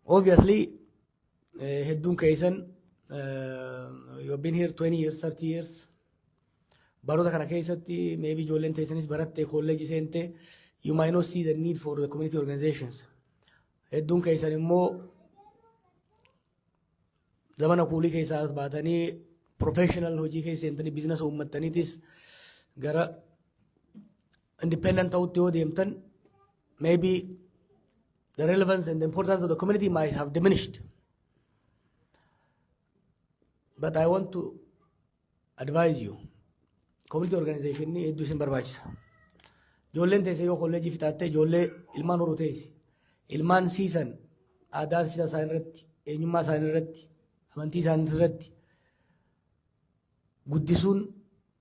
obviously eh, hedduun keessan eh, you have been here 20 years 30 years baroota kana keessatti maybe ijoolleen teessanis baratte kolleeji seente you might not see the need for the community organizations hedduun keessan immoo zamana kuulii keessaa as baatanii professional hojii keessa seentanii biizinasa uummattaniitis gara independent ta'utti yoo deemtan maybe the relevance and the importance of the community might have diminished. But I want to advise you. Community organization ni hedduu isin barbaachisa. Ijoolleen teessee yoo kolleejii fixaattee ijoollee ilmaan horuu teessi. Ilmaan siisan aadaa fixaa isaanii irratti, eenyummaa isaanii irratti, amantii isaanii irratti guddisuun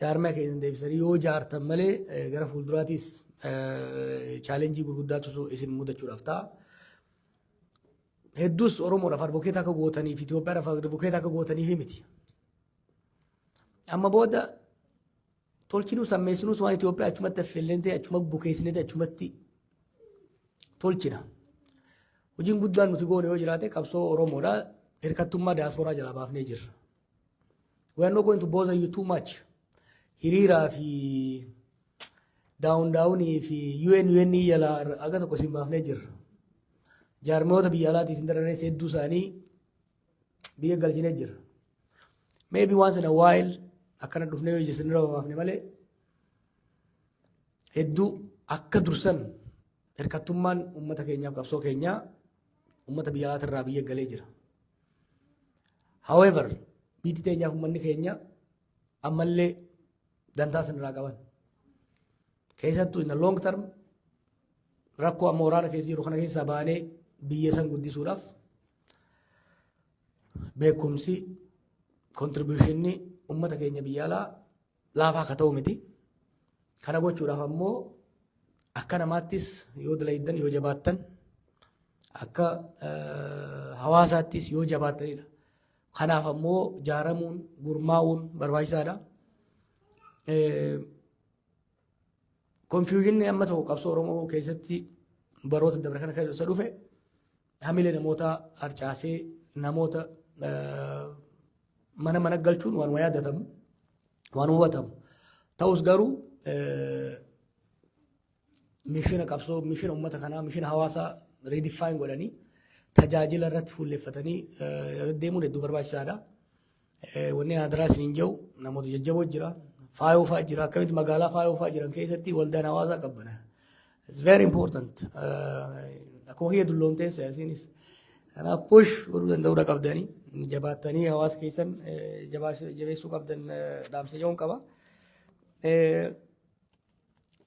Jaarmaya keessan deebisanii yoo jaartan malee gara fuulduraatiis chaalenjii gurguddaatu isin mudachuudhaaf ta'a. Hedduus Oromoodhaaf advokeeta akka gootaniif Itoophiyaadhaaf advokeeta akka gootaniif miti. Amma booda tolchinuus ammeessinuus waan Itoophiyaa achumatti affeelleen ta'e achuma bukeessinee ta'e achumatti tolchina. Hojiin guddaan nuti goone yoo jiraate qabsoo Oromoodha. Hirkattummaa diyaasporaa jalaa baafnee jirra. We are not going to bother you too much. Hiriiraa fi daawun daawunii fi UN UN yala aga tokko isin baafnee jirra. Jaarmiyoota biyya alaatii isin dararrees hedduu isaanii biyya galchinee jirra. Maybe once in a while akkana dhufnee yoo isin irra baafne malee hedduu akka dursan hirkattummaan uummata keenyaaf qabsoo keenyaa Uummata biyya alaati irraa biyya galee jira. However, biyyi teenyaaf uummanni keenya ammallee dantaa san irraa qaban. Keessattuu in the long term rakkoo amma waraana keessa jiru kana keessaa baanee biyya san guddisuudhaaf beekumsi kontribuushinni uummata keenya biyya alaa laafaa akka ta'u miti. Kana gochuudhaaf ammoo akka namaattis yoo dalayddan yoo jabaattan akka hawaasaattis yoo jabaattanidha. Kanaaf ammoo jaaramuun gurmaa'uun barbaachisaadha. Konfiyuuzinni amma ta'u qabsoo Oromoo keessatti baroota dabre kana keessa dhufe hamilee namootaa harcaasee namoota mana mana galchuun waanuma yaadatamu waan hubatamu ta'us garuu mishina qabsoo mishina uummata kanaa mishina hawaasaa riidifaayin godhanii tajaajila irratti fuulleffatanii deemuun hedduu barbaachisaadha. Wanni hadaraa isiniin jedhu namoota jajjaboo jira. Faayoo fa'aa jira. Akkamitti magaalaa faayoo fa'aa jiran keessatti waldaan hawaasaa qabbana. It's very important. Akkuma kiyya dulloomteen siyaasiinis. Kanaaf push godhuu danda'uudha qabdanii. Jabaattanii hawaasa keessan jabeessuu qabdan dhaamsa jedhuun qaba.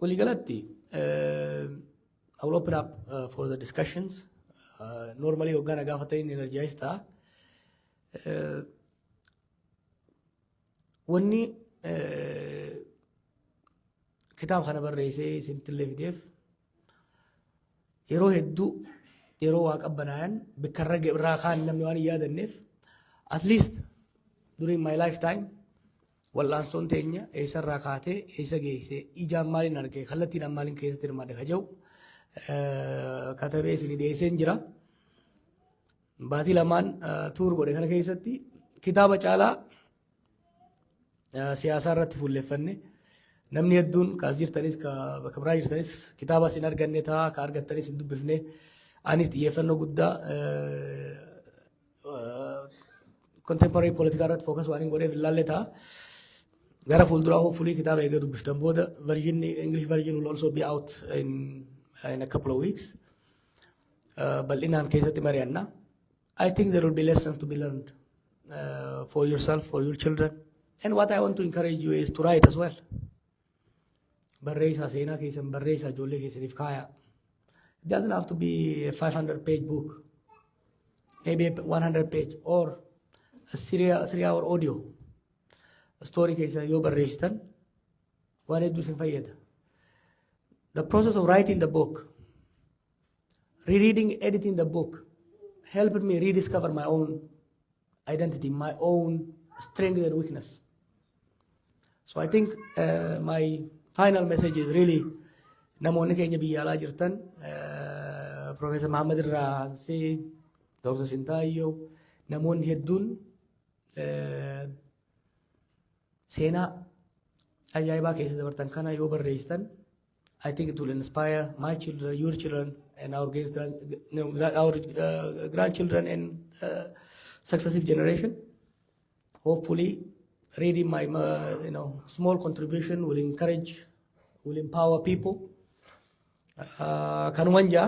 Waliigalatti I will open up uh, for the discussions. Uh, normally hoggaa na gaafatanii energize ta'a. Wanni kitaaba kana barreessee isinitti illee fideef yeroo hedduu yeroo waa qabbanaayan bikkarra irraa kaan namni waan hin yaadanneef at least during my lifetime wal'aansoon teenya eessarraa kaatee eessa geessee ijaan maaliin arge kallattiin maaliin keessatti hirmaadhe ka jedhu katabee isin dhiyeesseen jira. Baatii lamaan tuur godhe kana keessatti kitaaba caalaa siyaasaa irratti fuulleffanne namni hedduun kaas jirtanis ka bakka biraa jirtanis kitaabas hin arganne ta'a ka argattanis hin dubbifne anis xiyyeeffannoo guddaa contemporary politikaa irratti fookas waan hin godheef hin laalle ta'a. Gara fuulduraa hopefully kitaaba eega dubbiftan booda version English version will also be out in, in a couple of weeks. bal'inaan keessatti mari'anna. I think there will be lessons to be learned uh, for yourself, for your children. And what I want to encourage you is to write as well. Barreessaa seenaa keessan barreessaa ijoollee keessaniif kaayaa. It doesn't have to be a 500 page book, maybe a 100 page or a three, three hour audio. Story keessan yoo barreessitan Waan hedduu isin fayyada. The process of writing the book, rereading, editing the book helped me rediscover my own identity, my own strength and weakness. So I think uh, my final message is really namoonni keenya biyya alaa jirtan uh, Professor Muhammad irraa ansee Dr. Sintaayyoo namoonni hedduun uh, Seenaa ajaa'ibaa keessa dabartan kana yoo barreessitan I think it will inspire my children, your children, and our great grand, no, gra- our uh, grandchildren and uh, successive generation. Hopefully, reading my uh, you know small contribution will encourage, will empower people. Uh, kanuman jaa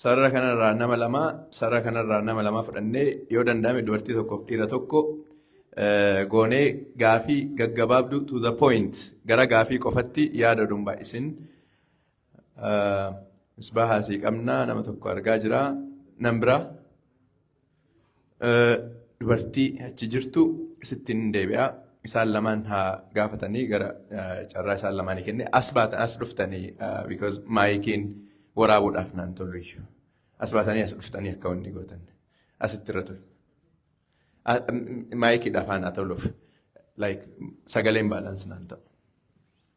Sarara kanarraa nama lama, sarara kanarraa nama lama fudhannee yoo danda'ame dubartii tokkoof dhiira tokko eh, goonee gaafii gaggabaabdu to the point gara gaafii qofatti yaada oduu hin baay'isin. Eh, Misbaahaa sii qabna nama tokko argaa jira. Nan biraa. dubartii achi jirtu sittiin hin deebi'a. Isaan lamaan haa gaafatanii gara carraa isaan lamaanii kenne as baatan as dhuftanii because maayikiin waraabuudhaaf naan tolu iyyuu. As baatanii as dhuftanii akka wanni gootan asitti irra tolu. Maayikiidhaaf haa naa toluuf like sagaleen baalaansi naan ta'u.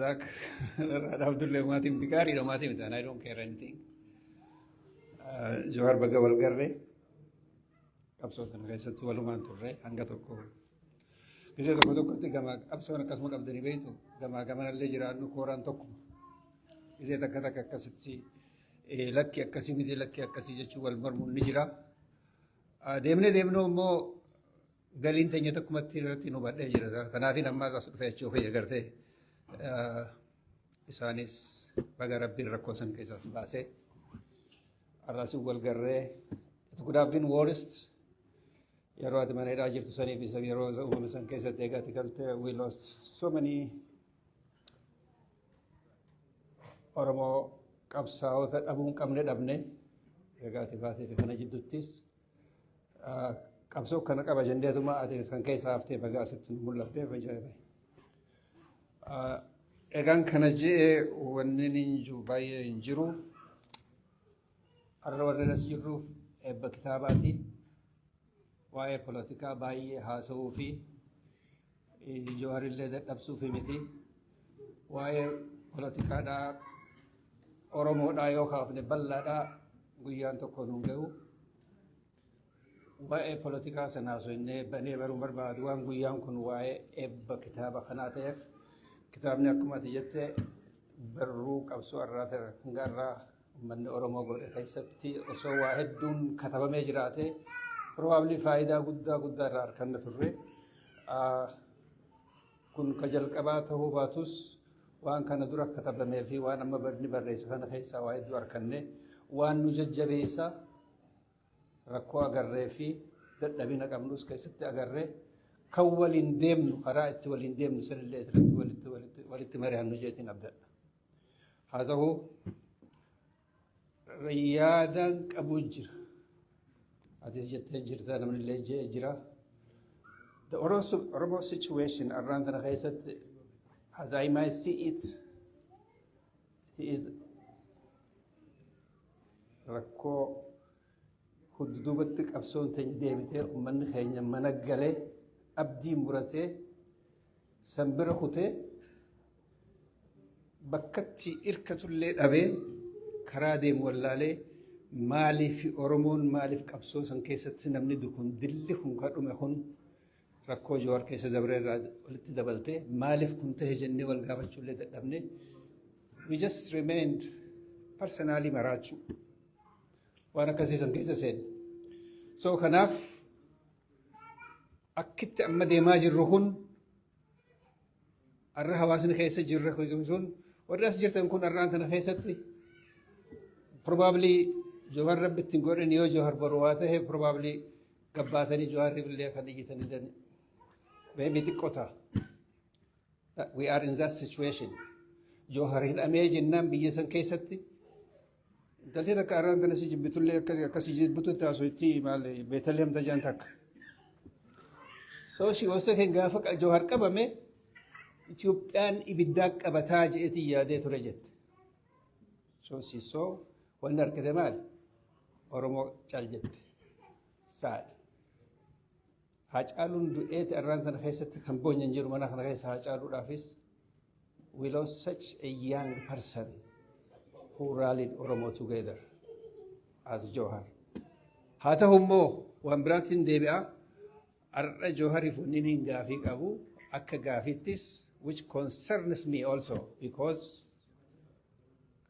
Zak, Abdullah maatii miti gaariidha maatii miti and I don't care anything. Jawaar baga wal garree qabsoo sana keessatti walumaan turre hanga tokko Biyya tokko tokkotti gamaa qabsoon akkasuma qabdanii beektu gamaa gamanallee jiraannu kooraan tokkuma. Biyya takka takka akkasitti lakki akkasii miti lakki akkasii jechuun wal mormuun ni jira. Deemnee deemnuu immoo galiin teenya tokkumatti irratti nu badhee jira. Kanaafin ammaas as dhufee jechuu kiyya gartee isaanis baga rabbiin rakkoo san keessaas baasee har'aas wal garree it could have been worst Yeroo ati mana hidhaa jirtu sanii fi yeroo uumame san keessatti egaa ati galte we lost so many Oromoo qabsaa'ota dhabuun qabne dhabne egaa ati baatee fi kana jidduuttis qabsoo kana qaba jenneetuma ati kan keessa haftee bagaa asitti nu mul'attee fayyadame. Egaan kana je'ee wanni hin jiru baay'ee hin jiru. Har'a warreen as jirruuf eebba kitaabaati. Waa'ee polotikaa baay'ee haasa'uu fi Jawaarillee dadhabsuuf miti. Waa'ee polotikaadhaa Oromoodhaa yoo kaafne bal'aadhaa guyyaan tokko nuun ga'u. Waa'ee polotikaa sana haasofnee banee baruu barbaadu waan guyyaan kun waa'ee eebba kitaaba kanaa ta'eef kitaabni akkuma ati jette barruu qabsoo irraa ta'e hanga irraa Uummanni Oromoo godhe keessatti osoo waa hedduun katabamee jiraate probably faayidaa guddaa guddaa irraa arganna turre. Kun ka jalqabaa ta'uu baatus waan kana dura katabamee fi waan amma barni barreesse kana keessaa waa hedduu arganne waan nu jajjabeessa rakkoo agarree fi dadhabina qabnus keessatti agarree kan waliin deemnu karaa itti waliin deemnu sanillee irratti walitti walitti mari'annu jeetiin abdadha. Haa ta'u yaadaan qabu jira. Atis jettee jirta namni illee je'ee jira. The Oromo, Oromo situation around the Khayzat, as I might see it, it is rakkoo hudduubatti qabsoon teenya deebitee uummanni keenya mana galee abdii muratee San bira kutee bakkatti irkatullee dhabee karaa deemu wallaalee maaliif Oromoon maaliif qabsoo san keessatti namni dukun dilli kun ka dhume kun rakkoo Jawaar keessa dabree irraa walitti dabaltee maaliif kun ta'e jennee wal gaafachuullee dadhabne we just remained personally maraachuu waan akkasii san keessa seenne. So kanaaf Akkitti amma deemaa jirru kun har'a hawaasni keessa jirra sun warri as jirtan kun har'aan kana keessatti probably Jawar rabbi ittiin godhan yoo Jawar baru waa ta'e probably gabbaatanii Jawariif illee akka dhiyyatanii dan beebi xiqqoo ta'a. We are in that situation. Jawar hidhamee jennaan biyya san keessatti Galtee takka arraan tana si jibbitullee akkasii akkasii jibbututti haasofti maal beetalheem tajaan takka. So she was saying gaafa qa- Jawhar qabame Itoophiyaan ibiddaa qabataa jedheetiin yaadee ture jette. So she saw wanni argite maal? Oromoo cal jette. Saad. Haacaaluun du'eeti arraan tana keessatti kan boonya hin jiru mana kana keessa Haacaaluudhaafis we lost such a young person who rallied Oromo together as Jawhar. Haa ta'u immoo waan biraatiin deebi'a har'a Jawhariif wanni niin gaafii qabu akka gaafiittis which concerns me also because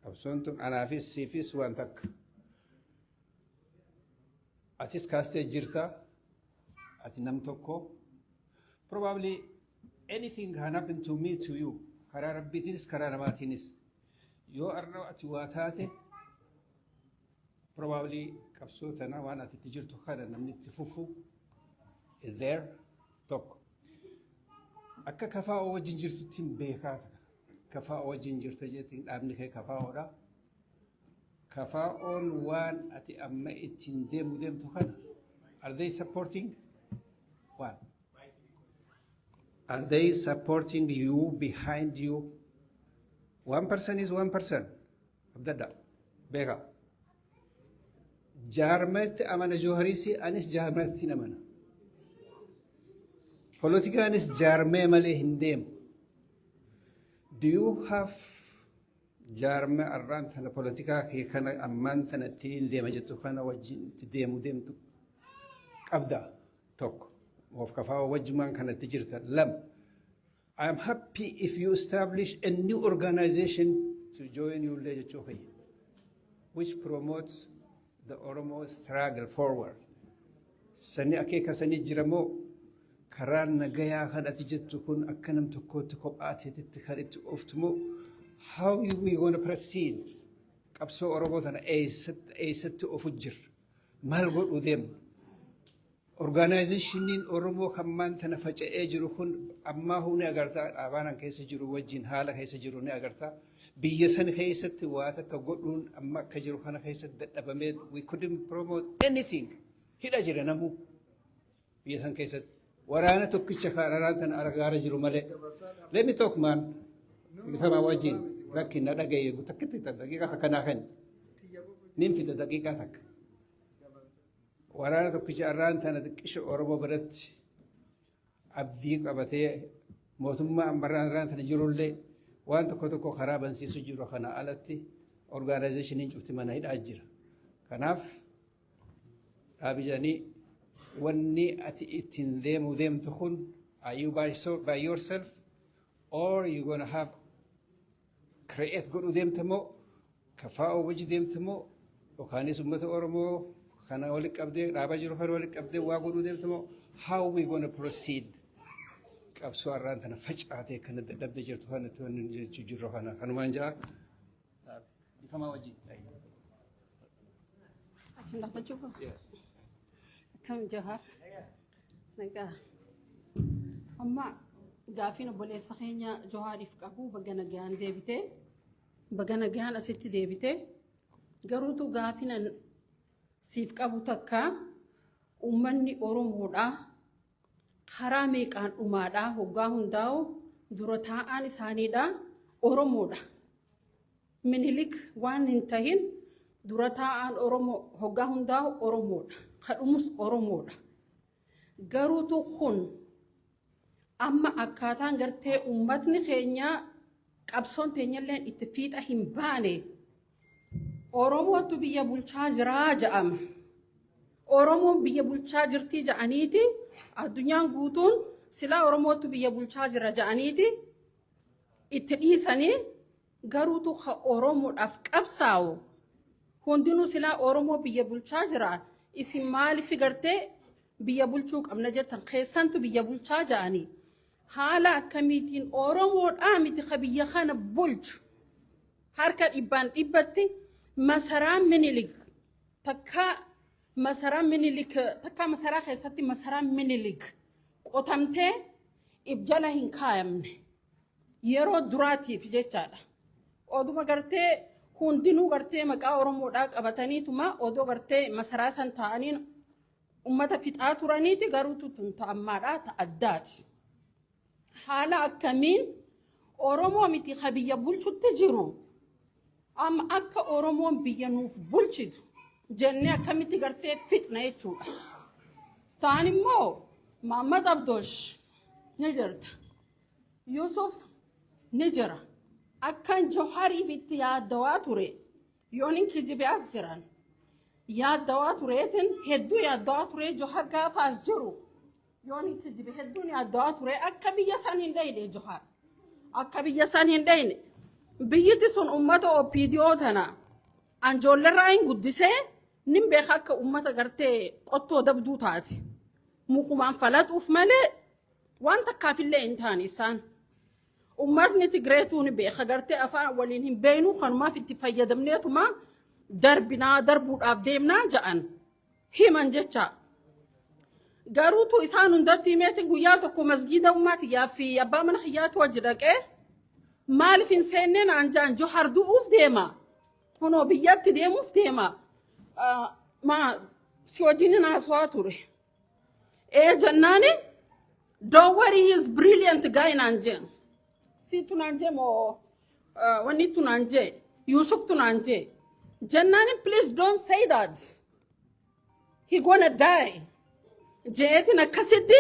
qabsoon tun anaafis siifis waan takka. Atis kaastee jirta. Ati nam tokko. Probably anything can happen to me to you. Karaa rabbiitiinis karaa namaatiinis. Yoo arra ati waa taate probably qabsoo tana waan ati itti jirtu kana namni itti fufu is there tokko. Akka kafaa oo wajjin jirtutti hin beekaa ta'a. Kafaa oo wajjin jirta jettiin dhaabni kee kafaa oodha. KFOn waan ati amma ittiin deemu deemtu kana are they supporting waan are they supporting you behind you one person is one person abdadda beeka jaarmatti amana joohariisi anis jaarmatti namana politikaanis jaarmee malee hin deemu do you have jaarmee arraan tana politikaa kee kana ammaan tana ittiin deema jettu kana wajjin itti deemu deemtu qabda tokko of kafaa wajjumaan kanatti jirta lama I am happy if you establish a new organization to join you illee jechuu kiyya which promotes The Oromo struggle forward. Sani akeeka sanii jira moo karaa nagayaa kan ati jettu kun akka nam tokkootti kophaa teetitti kan itti ooftu moo how we gonna proceed qabsoo Oromoo tana eessatti eessatti ofu jirra maal godhuu deemna Orgaanaayizeshiniin Oromoo kan maan tana faca'ee jiru kun ammaahuu ni agarta dhaabaan an keessa jiru wajjin haala keessa jiru ni agarta. Biyya san keessatti waa takka godhuun amma akka jiru kana keessatti dadhabamee we couldn't promote anything hidha jira namuu biyya san keessatti. Waraana tokkicha kaararaan tana argaara jiru malee. Let me talk man. Gitamaa wajjin lakki na dhagaye takkitti daqiiqaa takka naa kenni. Nin fida daqiiqaa takka. Waraana tokkicha arraan tana xiqqisha Oromoo biratti abdii qabatee mootummaa ammarraan irraan tana jirullee waan tokko tokko karaa bansiisu jiru kana alatti orgaanaayizeshiniin cufti mana hidhaa jira. Kanaaf dhaabi jedhanii wanni ati ittiin deemuu deemtu kun are you by, so, by yourself or you gonna have create godhuu deemta moo kafaa'uu wajji deemta moo yookaanis uummata Oromoo kana walitti qabdee dhaaba jiru kana walitti qabdee waa godhuu deemta moo how we gonna proceed qabsoo har'aan tana facaatee kana dadhabde jirtu kana itti wanni jechuu jirru kana kanumaan ja'a. Bikamaa wajjin. Achiin gaafachuu qaba. Akkam jahaa. Nagaa. Amma gaafiin obboleessa keenya Johaariif qabu baga nagaan deebite. Baga nagaan asitti deebite. Garuutu gaafiin an siif qabu takka uummanni Oromoodha. Karaa meeqaan dhumaadha hoggaa hundaa'u dura taa'aan isaaniidha Oromoodha. Minilik waan hin tahin dura taa'aan Oromoo hoggaa hundaa'u Oromoodha. Ka dhumus Oromoodha. Garuutu kun amma akkaataan gartee uummatni keenya qabsoon teenyalleen itti fiixa hin baane Oromootu biyya bulchaa jiraa ja'ama. Oromoon biyya bulchaa jirtii ja'aniiti addunyaan guutuun silaa Oromootu biyya bulchaa jira ja'aniiti itti dhiisanii Garuutu ka Oromodhaf qabsaawu hundinuu silaa Oromoo biyya bulchaa jira isin maalifi gartee biyya bulchuu qabna jettan keessantu biyya bulchaa ja'ani haala akkamiitiin Oromoodhaa miti ka biyya kana bulchu harka dhibbaan dhibbatti masaraa minilik takkaa masaraa minilik takkaa masaraa keessatti masaraa minilik qotamtee if jala hin kaayamne. Yeroo duraatiif jechaadha. Oduma gartee hundinuu gartee maqaa Oromoodhaa qabataniituma odoo gartee masaraa san taa'aniin ummata fixaa turaniiti garuutu tun ta'ammaadhaa ta addaati. Haala akkamiin Oromoo miti ka biyya bulchutti jiru amma akka Oromoon biyya nuuf bulchitu jennee akkamitti gartee fixna jechuudha. Taan immoo Maammad Abdoosh ni jirta. Yusuf ni jira. Akkan Johariif itti yaaddawaa ture yoonin kijibee as jiran yaaddawaa tureetin hedduu yaaddawaa ture Johar gaafa as jiru yoonin kijibe hedduun yaaddawaa ture akka biyya san hin dheyne Johar akka biyya san hin dheyne biyyiti sun ummata OPDO tana anjoollerraa hin guddisee nin beeka akka ummata gartee qottoo dabduu taate mukumaan falaxuuf malee Waan takkaaf illee hin taane isaan. Ummatni Tigreetuu ni beeka gartee afaan waliin hin beeknu kanumaaf itti fayyadamneetuma darbinaa darbuudhaaf deemnaa ja'an himan jecha. Garuutu isaan hundatti himeetiin guyyaa tokko masgiida ummaa tiyyaa fi abbaa mana kiyyaatu wajji dhaqee maaliif hin seenneen anjaan johar du'uuf deema kunoo biyyatti deemuuf deema Ah, maa si wajjin hin haasawaa ture. Ee jennaani don't worry he is brilliant guy naan jeen. Siitu naan jee moo eh, wanni tu naan jee Yuusuftu naan jee. Jennaani please don't say that. He gonna die. Jeetiin akkasitti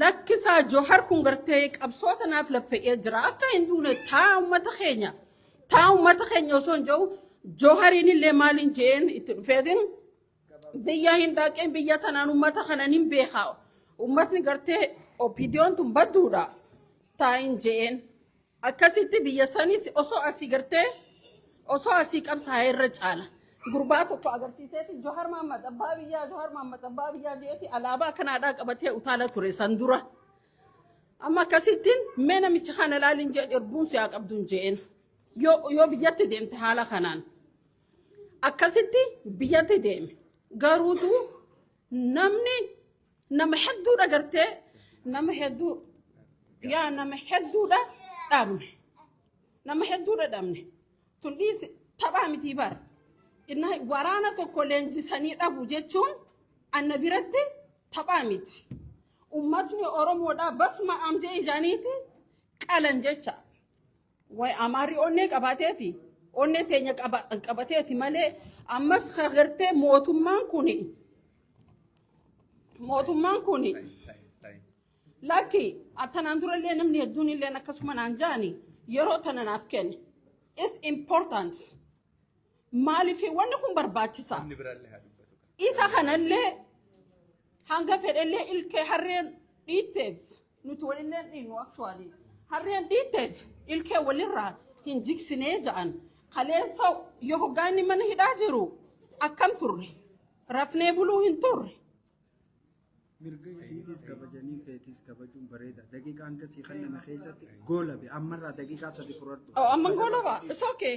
lakkisaa Johar kun gartee qabsoo tanaaf laffa'ee jira. Akka hin duune taa uummata keenya. Taa uummata keenya osoo hin jiru Johariin illee maaliin jeen itti dhufeetiin biyya hin dhaqeen biyya tanaan ummata kanan hin beeka ummatni gartee opidiyoon tun badduudha taayin je'een akkasitti biyya sanis osoo asii gartee osoo asii qabsaa'ee irra caala gurbaa tokko agarsiiseeti johar mahammad abbaa biyyaa johar mahammad abbaa biyyaa je'eeti alaabaa kanaadhaa qabatee utaala ture san dura amma akkasittiin mee namicha kana laaliin je'een erbuun siyaa qabduun je'een yoo yoo biyyatti deemte haala kanaan. akkasitti biyyatti deeme garuutu namni nama hedduudha gartee nama hedduu yaa nama hedduudha dhabne nama hedduudha dhabne tun dhiisi taphaa mitii bara inna waraana tokko leenjisanii dhabu jechuun anna biratti taphaa miti ummatni oromoodhaa basma amjee ijaaniiti qalan jecha Way Amaarri onnee qabaateeti. Onneen teenya qaba- qabateeti malee ammas ka gartee mootummaan kuni mootummaan kuni lakki tanaan durallee namni hedduun illee akkasuma naan jaani yeroo tana naaf kenne. It's important. Maaliif wanni kun barbaachisa? Inni biraallee haa dubbatu. Isa kanallee hanga fedhellee ilkee harreen dhiitteef Nuti walillee dhiinu actually. Harreen dhiitteef ilkee walirraa hin jigsinee ja'an. Kaleessa yoo hoggaa inni mana hidhaa jiru akkam turre? Rafnee buluu hin turre. mirga keetis kabajanii keetis kabajuun bareeda daqiiqaa hanga sii kenname keessatti goolabe ammarraa daqiiqaa sadi furartu Oh, amman goolaba. It's okay.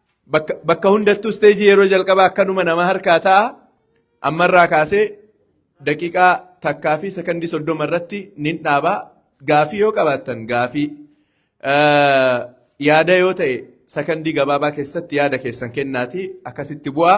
Bakka, bakka hundattuu isteejii yeroo jalqabaa akkanuma nama harkaa ta'a. Ammarraa kaasee daqiiqaa takkaa fi sekondii soddoma irratti nin dhaaba. Gaafii yoo qabaattan gaafii. Eh, Yaada yoo ta'e sekondii gabaabaa keessatti yaada keessan kennaatii akkasitti bu'aa.